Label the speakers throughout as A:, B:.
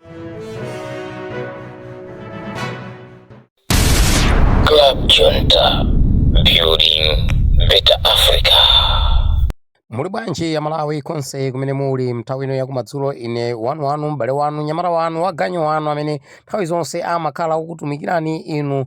A: Club Junta, building better Africa.
B: muli bwanji a malawi konse kumene muli mnthawi ino yakumadzulo ine wanu wanu m'bale wanu nyamata wanu waganyu wanu amene nthawi zonse amakhala okutumikirani inu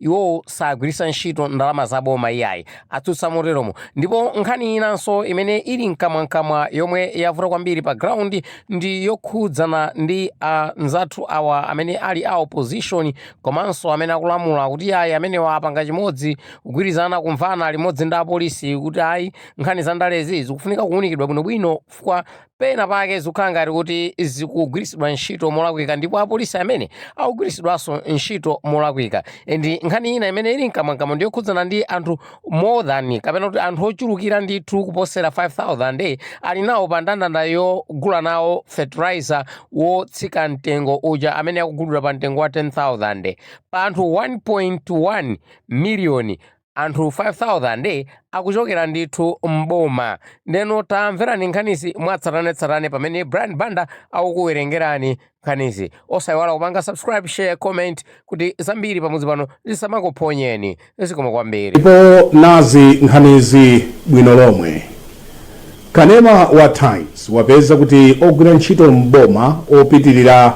B: Iwo sagwiritsa ntchito ndalama za boma iyayi, atsutsa moteromo. Ndipo nkhani inanso imene ili mkamwamkamwa yomwe yavuta kwambiri pa ground ndi yokhudzana ndi anzathu awa amene ali a opposition komanso amene akulamula kuti iyayi amene apanga chimodzi kugwirizana kumvana limodzi ndi apolisi kuti ayi nkhani za ndalezi zikufunika kuwunikidwa bwinobwino chifukwa pena pake zikukhala ngati kuti zikugwiritsidwa ntchito molakwika ndipo apolisi amene akugwiritsidwanso ntchito molakwika and nkhani ina imene ili mkamwamkamwa ndi yokhudzana ndi anthu more than kapena kuti anthu ochulukira ndithu kuposera 5000 ali nawo pa ndandanda ogula nawo fertilizer wotsika mtengo uja amene akugulidwa pa mtengo wa 10000 pa anthu 1.1 miliyoni anthu 5000 akuchokera ndithu m'boma ndeno tamverani nkhanizi mwatsatanetsatane pamene brian banda akukuwerengerani nkhanizi osayiwala kupanga subscribe share comment kuti zambiri pamudzi pano zisamakuphonyeni zikomo kwambiri ndipo nazi
C: nkhanizi bwino lomwe kanema wa times wapeza kuti ogwira ntchito m'boma opitirira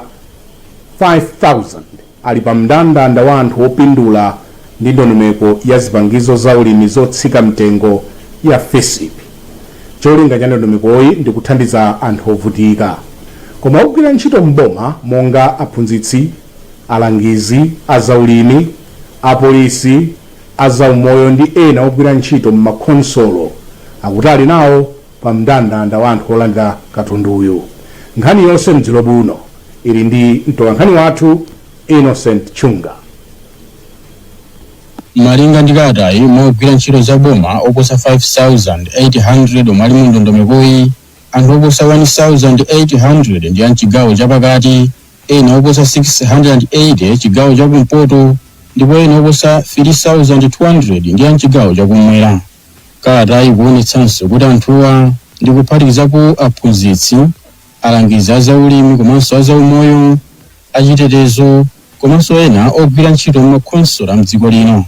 C: 5000 ali pa mndandanda wa anthu opindula ndi ndondomeko ya zipangizo za ulimi zotsika mtengo ya Fisp. Cholinga cha ndondomekoyi ndi kuthandiza anthu ovutika. Koma ogwira ntchito m'boma monga aphunzitsi, alangizi a zaulimi, apolisi, a zaumoyo ndi ena ogwira ntchito m'makhonsolo akuti ali nawo pa mndandanda wa anthu olandira katunduyu. Nkhani yonse m'chigawo chino ili ndi mtolankhani wathu Innocent Chunga.
D: Malinga ndi kalatayi, mwa ogwira ntchito za boma oposa 5,800 omwe ali mu ndondomekoyi, anthu oposa 1,800 ndi a mchigawo chapakati, ena oposa 680 chigawo chakumpoto, ndipo ena oposa 3,200 ndi a mchigawo chakumwera. Kalatayi ikuonetsanso kuti anthuwa ndi kuphatikizapo aphunzitsi, alangizi a zaulimi komanso a zaumoyo, achitetezo komanso ena ogwira ntchito m'makhonsolo a m'dziko lino.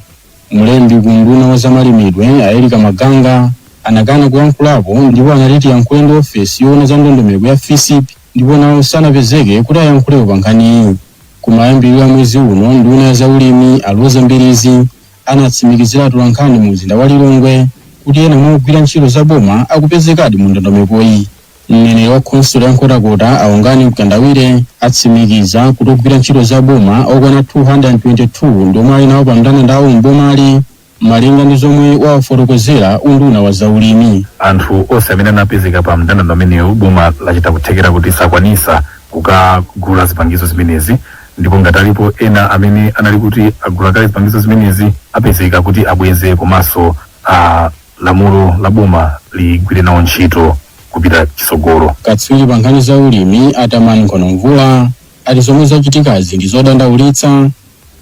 D: Mlembi ku unduna wa zamalimidwe a Erica Maganga anakana kuyankhulapo ndipo anati tiyankhule ndi ofesi yoona za ndondomeko ya Fisip ndipo nawo sanapezeke kuti ayankhulepo pa nkhaniyi. Kumayambiriro a mwezi uno nduna ya zaulimi a Roza Mbilizi anatsimikizira atolankhani mu mzinda wa Lilongwe kuti ena mwa ogwira ntchito za boma akupezekadi mu ndondomekoyi. Mneneri wa khonsolo ya Nkhotakota a Wongani Mkandawire atsimikiza kuti ogwira ntchito za boma okwana 222 ndi omwe ali nawo pa mndandandawo m'bomali malinga ndi zomwe wawafotokozera unduna wa zaulimi. anthu onse amene
E: anapezeka pa mndandanda umenewu boma lachita kuthekera kuti asakwanitse kukagula zipangizo zimenezi ndipo ngati alipo ena amene anali kuti agula kale zipangizo zimenezi apezeka kuti abweze komanso a lamulo la boma ligwire nawo ntchito kupita chitsogolo katswiri pa nkhani
D: za ulimi a Tamani Nkhono Mvula ati zomwe zachitikazi ndi zodandaulitsa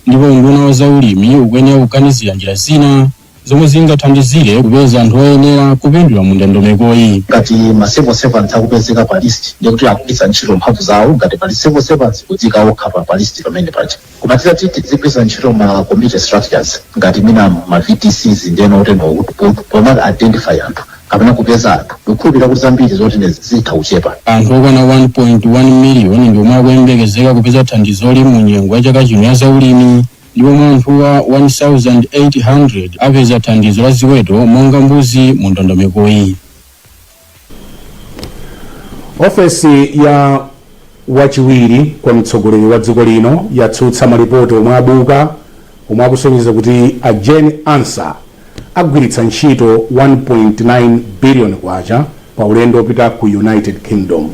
D: ndipo unduna wa za ulimi ukuyenera kuganizira njira zina zomwe zingathandizire kupeza anthu oyenera kupindula mu ndondomekoyi. ngati ma
F: civil servants akupezeka pa list ndiye kuti akugwiritsa ntchito mphamvu zawo ngati pali civil servants kudziika okha pa pa list pamene paja koma titati tizigwiritsa ntchito ma community structures ngati mina ma vdcs ndiyeno oteno kuti po- poma identify anthu kapena kupeza anthu ndikukhulupirira kuti zambiri zotene zitha kuchepa anthu okwana
D: 1.1 miliyoni ndi omwe akuyembekezeka kupeza thandizoli mu nyengo ya chaka chino ya zaulimi Ndipo mwa anthuwa, 1,800 apeza thandizo la ziweto monga mbuzi mu ndondomekoyi.
C: Ofesi ya wachiwiri kwa mtsogoleri wa dziko lino yatsutsa malipoti omwe abuka omwe akusonyeza kuti a Jane Ansah agwiritsa ntchito 1.9 biliyoni kwacha pa ulendo opita ku United Kingdom.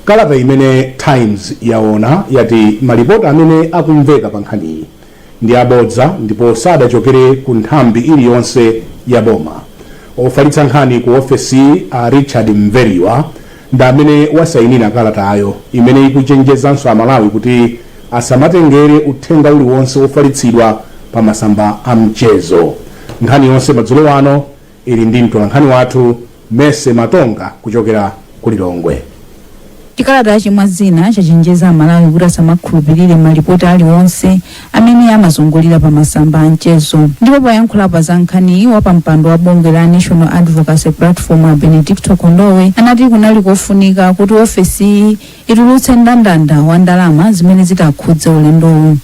C: Kalata imene Times yaona yati malipoti amene akumveka pa nkhaniyi ndi abodza ndipo sadachokere ku nthambi iliyonse ya boma. Ofalitsa nkhani ku ofesiyi a Richard Mveriwa ndi amene wasainira kalatayo imene ikuchenjezanso Amalawi kuti asamatengere uthenga uliwonse wofalitsidwa pa masamba a mchezo. Nkhani yonse madzulo ano ili ndi mtolankhani wathu Mercy Matonga kuchokera ku Lilongwe. Chikalatachi
G: mwa zina chachenjeza Amalawi kuti asamakhulupirire malipoti aliwonse amene amazungulira pa masamba a mchezo. Ndipo poyankhulapo za nkhaniyi, wapampando wa bungwe la National Advocacy Platform a Benedicto Kondowe anati kunali kofunika kuti ofesiyi itulutse ndandanda wa ndalama zimene zitakhudze ulendowu.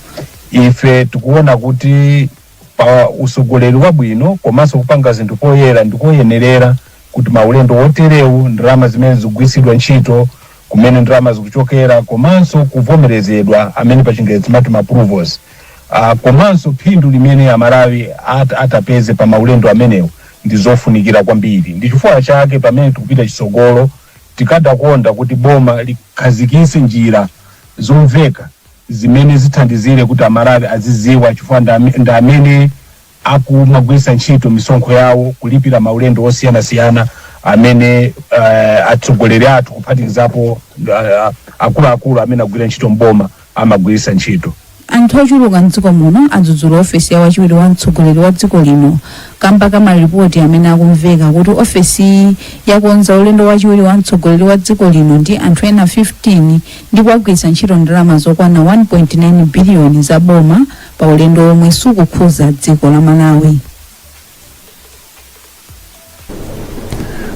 H: ife tikuona kuti pa usogoleri wabwino komanso kupanga zinthu poyera ndikoyenerera kuti maulendo oterewu ndalama zimene zigwiritsidwe ntchito kumene ndalama zikuchokera komanso kuvomerezedwa amene pa chingerezi timati ma approvals uh, komanso phindu limene amalawi at, atapeze pa maulendo amenewo ndi zofunikira kwambiri ndi chifukwa chake pamene tikupita chitsogolo tikadakonda kuti boma likhazikise njira zomveka zimene zithandizire kuti amalawi aziziwa chifukwa ndi ame- ndi amene akumagwiritsa ntchito misonkho yawo kulipira maulendo osiyanasiyana amene uh, atsogoleri athu kuphatikizapo uh, akuluakulu uh, amene akugwira ntchito mboma amagwiritsa ntchito anthu ochuluka
G: mdziko muno adzudzula ofesi ya wachiwiri wa mtsogoleri wa dziko lino kamba ka malipoti amene akumveka kuti ofesiyi yakonza ulendo wachiwiri wa mtsogoleri wa dziko lino ndi anthu ena 15 ndipo agwiritsa ntchito ndalama zokwana 1.9 biliyoni za boma pa ulendo omwe sukukhudza dziko la
C: malawi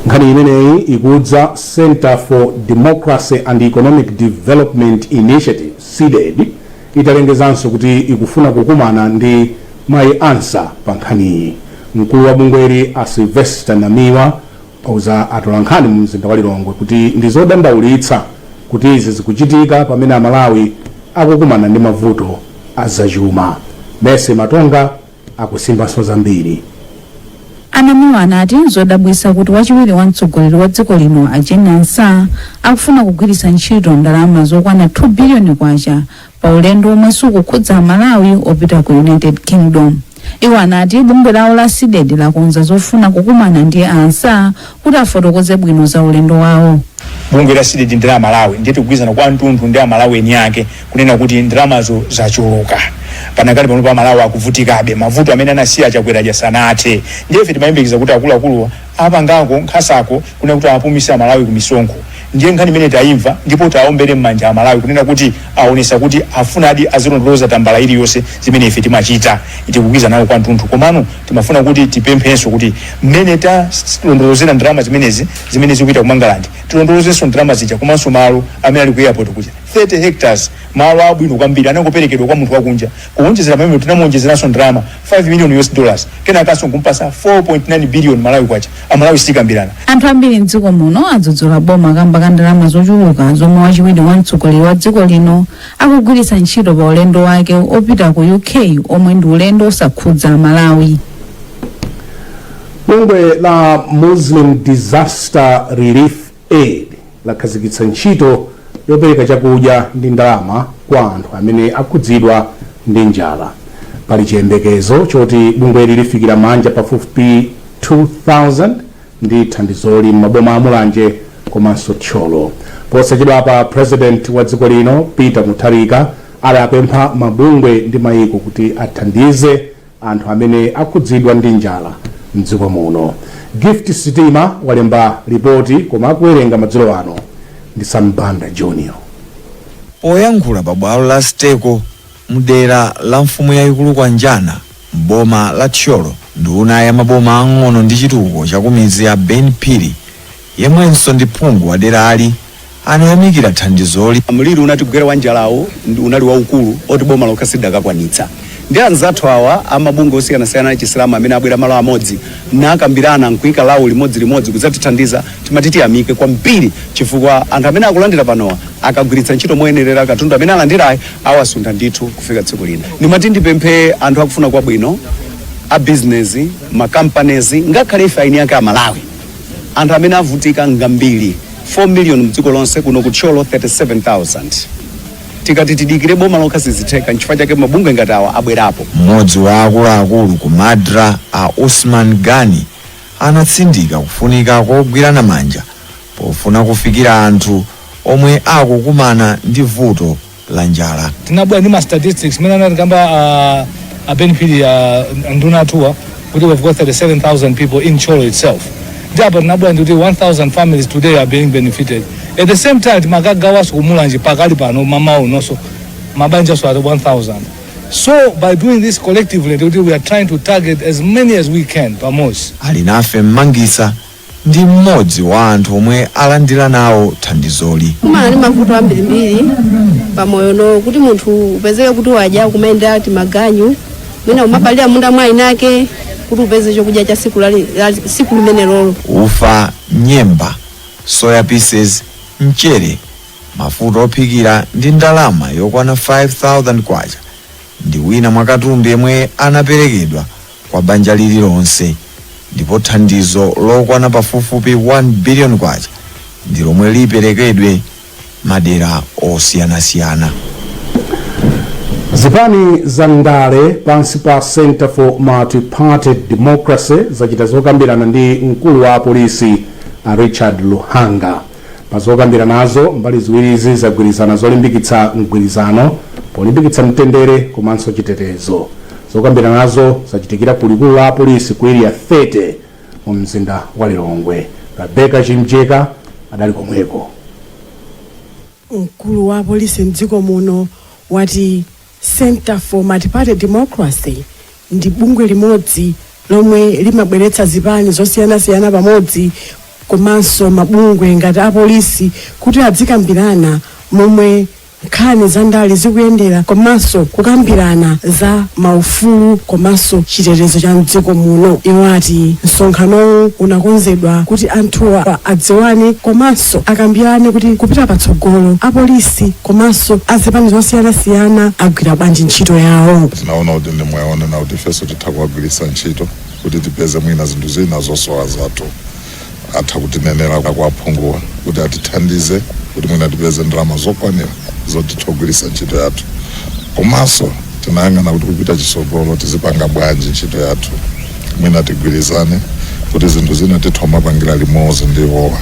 C: nkhani imeneyi ikudza center for democracy and economic development initiatives cdedi italengezanso kuti ikufuna kukumana ndi mayi ansah pa nkhaniyi mkulu wa bungweli a sylvester namiwa auza atolankhani mu mzinda wa Lilongwe kuti ndi zodandaulitsa kuti izi zikuchitika pamene Amalawi akukumana ndi mavuto a zachuma. Mercy Matonga akusimbanso zambiri.
G: A Namiwa anati nzodabwitsa kuti wachiwiri wa mtsogoleri wa dziko lino a Jane Ansah akufuna kugwiritsa ntchito ndalama zokwana 2 biliyoni kwacha pa ulendo omwe sukukhudza amalawi opita ku united kingdom iwo anati bungwe lawo la cdedi lakonza zofuna kukumana ndi a ansah kuti afotokoze bwino za ulendo wawo bungwe la
I: cdedi ndi la malawi ndiye tikugwirizana kwathunthu ndi amalawi eni ake kunena kuti ndalamazo zachuluka panakali pano amalawi akuvutikabe mavuto amene anasiya a chakwera aja sanathe ndiye ife timayembekeza kuti akuluakuluwa apangako nkhanzako kunena kuti awapumise amalawi ku misonkho ndiye nkhani imene taimva ndipo tiwaombere mmanja amalawi kunena kuti aonesa kuti akufunadi azilondoloza tambala iliyonse zimene ife timachita tikugwirizana nawo kwathunthu komano timafuna kuti tipemphenso kuti mmene talondolozera ndalama zimenezi zimene zikupita ku mangalandi tilondolozenso ndalama zija komanso malo amene ali ku airport kuja 30 hectares malo abwino kwambiri anangoperekedwa kwa munthu wakunja kuonjezera pamenepo tinamuonjezeranso ndalama 5 million US dollars kenakanso nkumpasa 4.9 billion malawi kwacha amalawi sitikambirana Anthu ambiri mdziko
G: muno adzudzula boma kamba ka ndalama zochuluka zomwe wachiwiri wa mtsogoleri wa dziko lino akugwiritsa ntchito pa ulendo wake opita ku UK omwe ndi ulendo osakhudza Malawi.
C: bungwe la muslim disaster relief Aid lakhazikitsa ntchito yopereka chakudya ndi ndalama kwa anthu amene akhudzidwa ndi njala. Pali chiyembekezo choti bungweli lifikira maanja pafupifupi 2,000 ndi thandizoli m'maboma a Mulanje komanso Thyolo. Posachedwapa President wa dziko lino Peter Mutharika adapempha mabungwe ndi maiko kuti athandize anthu amene akhudzidwa ndi njala mdziko muno. Gift Sitima walemba lipoti koma akuwerenga madzulo ano ndi Sam Banda Junior.
J: Poyankhula pa bwalo la Steco mdera la mfumu yayikulu Kwanjana m'boma la Thyolo, nduna ya maboma ang'ono ndi chitukuko chakumidzi a Ben Phiri, yemwenso ndi phungu waderali, anayamikira thandizoli. Mliri unatigwera
K: wa njalawu unali waukulu oti boma lokha silidakakwanitsa. Ndiye anzathu awa a mabungwe osiyanasiyana a Chisilamu amene abwera malo amodzi nakambirana n'kuika lawo limodzilimodzi kudzatithandiza, timati tiyamike kwambiri chifukwa anthu amene akulandira panowa akagwiritsa ntchito moyenerera katundu amene alandirayi, awasuntha ndithu kufika tsiku lina. Ndimati ndipemphe anthu akufuna kwabwino, abizinezi, ma companies, ngakhale ife aini ake Amalawi, Anthu amene avutika ng'ambiri 4 million mdziko lonse kuno ku Thyolo 37,000. Tikati tidikire boma lokha sizitheka nchifukwa chake mabungwe ngati awa abwerapo. Mmodzi wa
J: akuluakulu ku Madra a Usman Gani anatsindika kufunika kogwirana manja pofuna kufikira anthu omwe akukumana ndi vuto la njala. tinabwera ndi ma
L: statistics mene anatikamba a, a benefit a nduna athuwa, kuti we've got 37000 people in Thyolo itself ndi apa tinabwera ndi kuti 1000 families today are being benefited at the same time timakagawanso ku Mulanje pakali pano m'mawa unonso mabanjanso at 1000 so by doing this collectively ndikuti we are trying to target as many as we can pamodzi Alinafe Mmangisa
J: ndi m'modzi wa anthu omwe alandira nawo thandizoli. kumana ndi
M: mavuto ambirimbiri pamoyo no kuti munthu upezeke kuti wadya kumayendera timaganyu mwina kumapalira munda mwa inake kuti upeze chokudya cha siku lali- la- siku limene lolo
J: ufa nyemba soya pieces mchere mafuta ophikira ndi ndalama yokwana 5000 kwacha ndi wina mwa katundu yemwe anaperekedwa kwa banja liri lonse ndipo thandizo lokwana pafupifupi K1 billion ndi lomwe liperekedwe madera osiyanasiyana.
C: Zipani za ndale pansi pa Centre for Multiparty Democracy zachita zokambirana ndi mkulu wa apolisi a Richard Luhanga. Pa zokambiranazo, mbali ziwirizi zagwirizana zolimbikitsa mgwirizano polimbikitsa mtendere komanso chitetezo. Zokambiranazo zachitikira ku likulu la apolisi ku Area 30 mu mzinda wa Lilongwe. Rebecca Chimjeka adali komweko. Mkulu
N: wa apolisi mdziko muno wati Centre for Multiparty Democracy ndi bungwe limodzi lomwe limabweretsa zipani zosiyanasiyana pamodzi komanso mabungwe ngati apolisi kuti adzikambirana momwe nkhani za ndale zikuyendera komanso kukambirana za maufulu komanso chitetezo cha mdziko muno iwo ati msonkhanowu unakonzedwa kuti anthuwa adziwane komanso akambirane kuti kupita patsogolo apolisi apolisi komanso azipani zosiyanasiyana agwira bwanji ntchito yawo tinaona kuti ndi
O: mwayi onena kuti ifenso titha kuwagwiritsa ntchito kuti tipeze mwina zinthu zina zosowa zathu atha kutinenera kwa aphunguwa kuti atithandize kuti mwina tipeze ndalama zokwanira zoti titha kugwiritsa ntchito yathu komanso tinayang'ana kuti kupita chitsogolo tizipanga bwanji ntchito yathu mwina tigwirizane kuti zinthu zina titha kumapangira limodzi ndi iwowa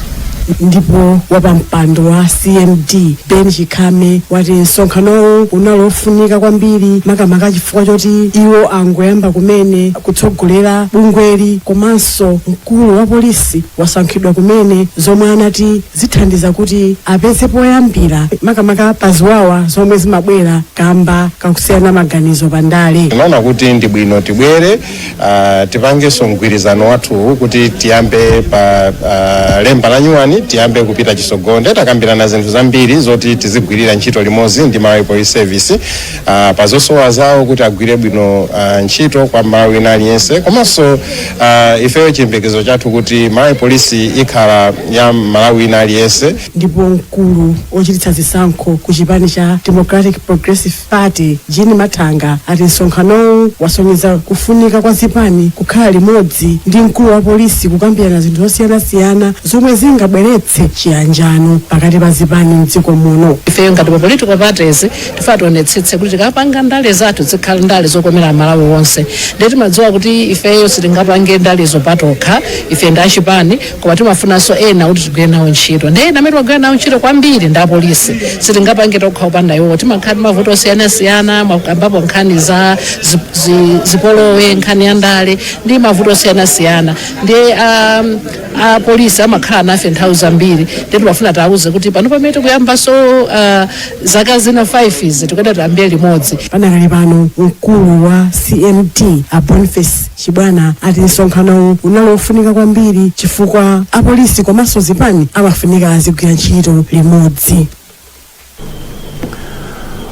N: ndipo wapampando wa cmd ben chakhame wati msonkhanowu unali ofunika kwambiri makamaka chifukwa choti iwo angoyamba kumene kutsogolera bungweli komanso mkulu wa polisi wasankhidwa kumene zomwe anati zithandiza kuti apeze poyambira makamaka pa ziwawa zomwe zimabwera kamba kakusiyana maganizo pa ndale tinaona kuti ndi bwino
P: tibwere uh, tipangenso mgwirizano wathuwu kuti tiyambe pa uh, lemba la nyuwani tiyambe kupita chitsogolo nde takambirana zinthu zambiri zoti tizigwirira ntchito limodzi ndi malawi police service ah, pa zosowa zawo kuti agwire bwino ah, ntchito kwa mmalawi wina aliyense komanso ah, ifeyo chiyembekezo chathu kuti malawi polisi ikhala ya mmalawi wina aliyense ndipo mkulu
N: wochititsa zisankho ku chipani cha democratic progressive party jean mathanga ati msonkhanowu wasonyeza kufunika kwa zipani kukhala limodzi ndi mkulu wa polisi kukambirana zinthu zosiyanasiyana zomwe zingabweretse chiyanjano pakati pa zipani mdziko muno ifeyo ngati ma political
Q: parties tifuna tionetsetse kuti tikapanga ndale zathu zikhala ndale zokomera amalawi wonse ndiye timadziwa kuti ifeyo sitingapange ndalezo patokha ife ndi achipani koma timafunanso ena kuti tigwire nawo ntchito ndiye ena amene timagwira nawo ntchito kwambiri ndi apolisi sitingapange tokha kupanda iwowo timakhala ndi mavuto osiyanasiyana mwakambapo nkhani za zi- zi- zipolowe nkhani ya ndale ndi mavuto osiyanasiyana ndiye um, apolisi amakhala nafe nthawi zambiri nde timafuna tiwauze kuti pano pamene tikuyambanso ah, zaka zina 5 izi tikuyenda tiyambire limodzi panakali pano
N: mkulu wa cmd a boniface chibwana ati msonkhanowu unali wofunika kwambiri chifukwa apolisi komanso zipani amafunika azigwira ntchito limodzi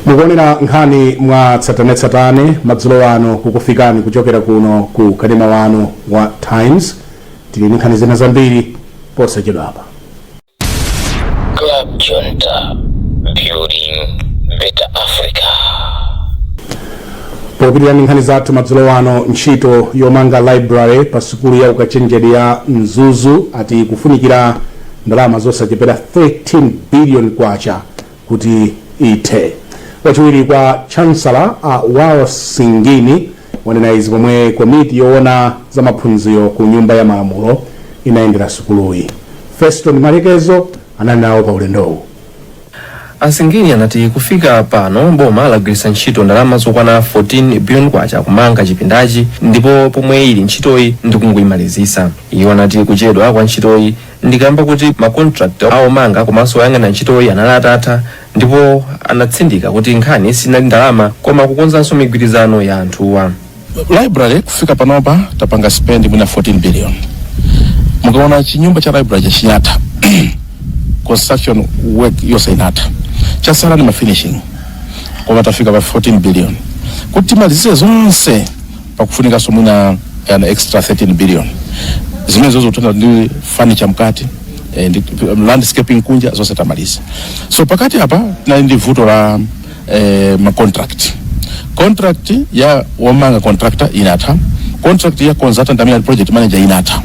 C: mukuonera nkhani mwa tsatanetsatane madzulo ano kukufikani kuchokera kuno ku kanema wanu wa times tili ndi nkhani zina zambiri posachedwapa
A: Club Junta, building better
C: Africa. popitirira ndi nkhani zathu madzulo ano ntchito yomanga library pa sukulu ya ukachenjede ya mzuzu ati kufunikira ndalama zosachepera 13 billion kwacha kuti ithe wachiwiri kwa chancellor a wales singini wanena izi pomwe komiti yoona za maphunziro ku nyumba ya malamulo inayendera sukuluyi feston malekezo anali nawo pa ulendowu
R: asingini anati kufika pano boma lagwiritsa ntchito ndalama zokwana 14 billion kwacha kumanga chipindachi ndipo pomwe ili ntchitoyi ndikungoyimalizisa iwo anati kuchedwa kwa ntchitoyi ndikamba kuti makontrakti aomanga komanso oyang'ana ntchitoyi anali atatha ndipo anatsindika kuti nkhani sinali ndalama koma kukonzanso migwirizano ya anthuwa
S: library kufika panopa tapanga spend mwina 14 billion mukaona chinyumba cha library chinatha construction work yonse inatha chasala ni mafinishing koma tafika pa 14 billion kuti timalize zonse pakufunikanso mwina an extra 13 billion zimenezozo tili ndi furniture mkati eh, ndi landscaping kunja zonse tamaliza so pakati apa tinali ndi vuto la eh, ma contract contract ya womanga contractor inatha contract ya consultant amene ali project manager inatha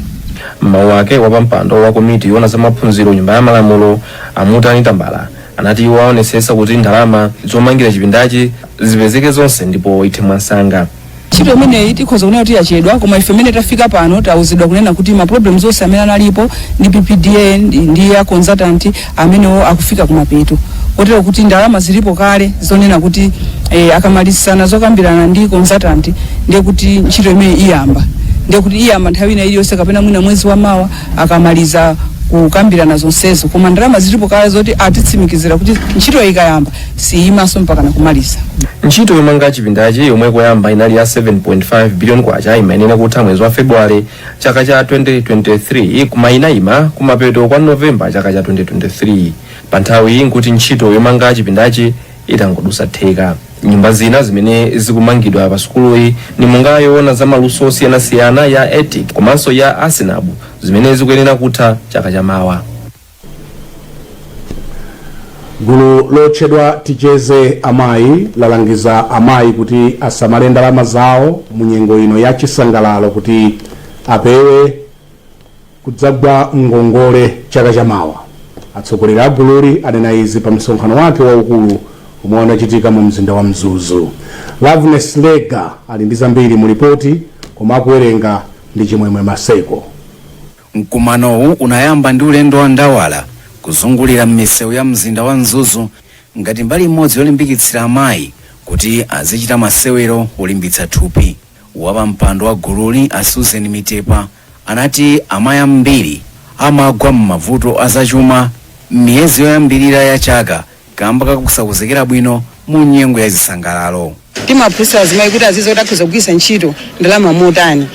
S: mmawu ake
R: wapampando wa komiti yoona za maphunziro nyumba ya malamulo a mutani tambala anati iwo aonesesa kuti ndalama zomangira chipindachi zipezeke zonse ndipo ithe mwansanga ntchito
T: imeneyi tikhoza kunena kuti yachedwa koma ife mmene tafika pano tawuzidwa kunena kuti ma problems onse amene analipo ndi ppda ndi, ndi a consultant amenewo akufika kumapeto kotero kuti ndalama zilipo kale zonena kuti eh, akamalizana zokambirana ndi consultant ndiye kuti ntchito imeneyi iyamba ndiye kuti iyamba nthawi ina iliyonse kapena mwina mwezi wa mawa akamaliza kukambirana zonsezo koma ndalama zilipo kale zoti atitsimikizira kuti ntchito ikayamba siyimanso mpaka nakumaliza ntchito
R: yomanga chipindachi yomwe koyamba inali ya 7.5 billion kwacha imayenera kutha mwezi wa february chaka cha 2023 koma inayima kumapeto kwa novemba chaka cha 2023 pa nthawi iyi nkuti ntchito yomanga chipindachi itangodusa theka nyumba zina zimene zikumangidwa pa sukuluyi ndi monga yoona za maluso osiyanasiyana ya etic komanso ya acenub zimene zikuyenera kutha chaka chamawa
C: gulu lotchedwa ticheze amayi lalangiza amayi kuti asamale ndalama zawo mu nyengo ino ya chisangalalo kuti apewe kudzagwa ngongole chaka chamawa atsogoleri a gululi anena izi pa msonkhano wake waukulu omwe unachitika mu mzinda wa mzuzu loveness lega ali ndi zambiri mu lipoti koma akuwerenga ndi chimwemwe maseko Mkumanowu
U: unayamba ndi ulendo wa ndawala kuzungulira m'misewu ya mzinda wa Mzuzu ngati mbali imodzi yolimbikitsira amayi kuti azichita masewero olimbitsa thupi. Wapampando wa gululi a Susan Mitepa anati amayi ambiri amagwa m'mavuto azachuma m'miyezi yoyambirira ya chaka kamba kakusakonzekera bwino mu nyengo ya zisangalalo timaphunzitsa
T: azimayi kuti aziziwa kuti akhoza kugwiritsa ntchito ndalama motani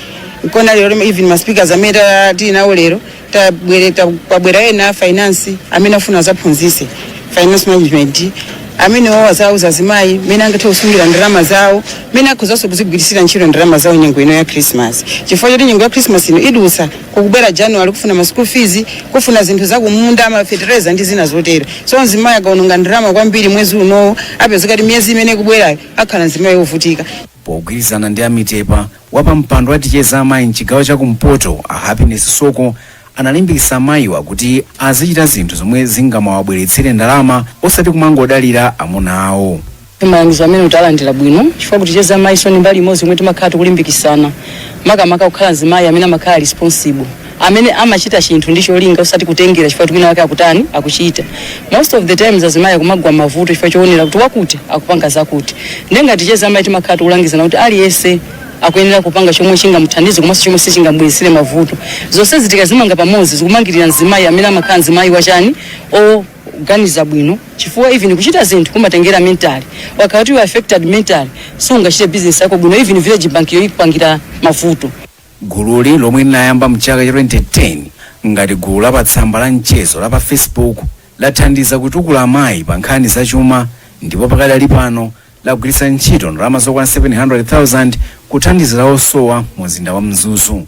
T: nkona lero lime- even ma speakers amene ta- tili nawo lero tabwere- ta- kwabwera ena a finance amene afuna azaphunzise finance management amene awo azawuza azimayi mmene angathe kusungira ndalama zawo mmene akhozanso kuzigwiritsira ntchito ndalama zawo nyengo ino ya christmas chifukwa choti nyengo ya christmas ino idutsa kukubwera January kufuna ma school fees, kufuna zinthu zakumunda, ma fertilizer ndi zina zotero. So mzimayi akaononga ndalama kwambiri mwezi unowo apezeka kuti miyezi imene ikubwerayo akhala mzimayi wovutika. pogwirizana ndi
U: a Mitepa wapampando wa ticheze amayi mchigawo cha kumpoto a happiness soko analimbikitsa amayiwa kuti azichita zinthu zomwe zingamawabweretsere ndalama osati kumangodalira amuna awo malangizo
T: amene tawalandira bwino chifukwa ku ticheze amayiso ndi mbali imodzi yomwe timakhala tikulimbikisana makamaka kukhala mzimayi amene amakhala responsible amene amachita chinthu ndi cholinga osati kutengera chifukwa kuti wina wake akutani akuchita most of the times azimayi akumagwa mavuto chifukwa choonera kuti wakuti akupanga zakuti ndiye ngati ticheze amayi timakhala tikulangizana kuti aliyense akuyenera kupanga chomwe chingamuthandize komanso chomwe sichingamubweretsere mavuto zonsezi tikazimanga pamodzi zikumangirira mzimayi amene amakhala mzimayi wachani o kuganiza bwino chifukwa even kuchita zinthu kumatengera mental ukakhala kuti you are affected mentally sungachite business yako bwino even village bank yo ikupangira mavuto gululi
U: lomwe linayamba mchaka cha 2010 ngati gulu la patsamba la mchezo la pa facebook lathandiza kutukula amayi pa nkhani zachuma ndipo pakadali pano lagwiritsa ntchito ndalama zokwana 700,000 kuthandizira osowa mu mzinda wa mzuzu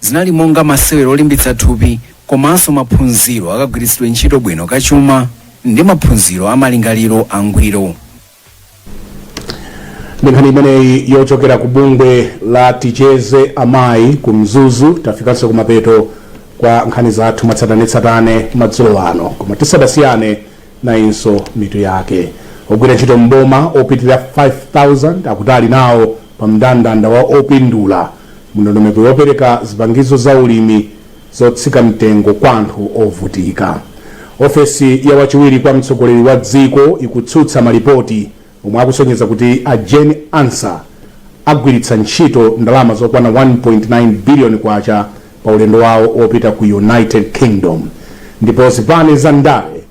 U: Zinali monga masewero olimbitsa thupi komanso maphunziro akagwiritsidwe ntchito bwino ka chuma ndi maphunziro a malingaliro angwiro.
C: Ndi nkhani imeneyi yochokera ku bungwe la Ticheze Amayi ku Mzuzu tafikanso kumapeto kwa nkhani zathu mwatsatanetsatane madzulo ano, koma tisadasiyane nayinso mitu yake. Ogwira ntchito m'boma opitirira 5,000 akuti ali nawo pa mndandanda wa opindula m'ndondomeko yopereka zipangizo za ulimi zotsika mtengo kwa anthu ovutika. Ofesi ya wachiwiri kwa mtsogoleri wa dziko ikutsutsa malipoti omwe akusonyeza kuti a Jane Ansah agwiritsa ntchito ndalama zokwana 1.9 billion kwacha pa ulendo wawo wopita ku United Kingdom ndipo zipani za ndale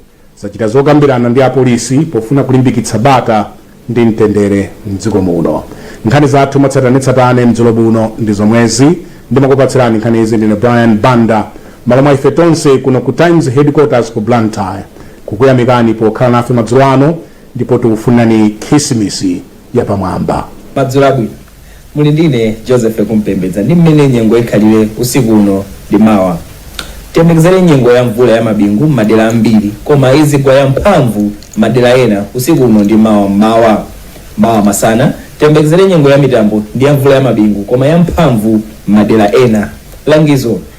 C: zachita zokambirana ndi apolisi pofuna kulimbikitsa bata ndi mtendere mdziko muno. Nkhani zathu mwatsatanetsatane madzulo ano ndi zomwezi. Ndimakupatsirani nkhanizi ndine Brian Banda mmalo mwa ife tonse kuno ku Times Headquarters ku Blantyre kukuyamikani pokhala nafe madzulo ano ndipo tikufunirani khisimisi yapamwamba. Madzulo
B: abwino. Muli ndi ine Joseph Kumpembedza ndi mmene nyengo ikhalire usiku uno ndi mawa. Tiyembekezere nyengo ya mvula ya mabingu m'madera ambiri koma idzigwa ya mphamvu m'madera ena usiku uno ndi mawa m'mawa. Mawa masana tiyembekezere nyengo ya mitambo ndi ya mvula ya mabingu koma ya mphamvu m'madera ena. Langizo,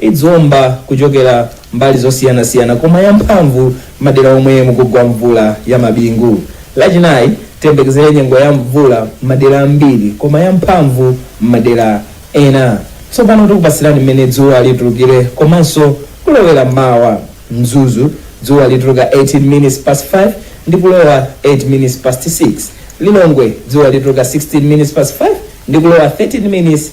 B: idziomba kuchokera mbali zosiyanasiyana koma yamphamvu madera omwe mukugwa mvula ya mabingu. Lachinayi tiyembekezere nyengo ya mvula m'madera ambiri koma yamphamvu m'madera ena. Tsopano tikupatsirani mmene dzuwa litulukire komanso kulowera mawa. Mzuzu, Dzuwa lituluka 18 minutes past 5 ndi kulowa 8 minutes past 6. Lilongwe, Dzuwa lituluka 16 minutes past 5 ndi kulowa 13 minutes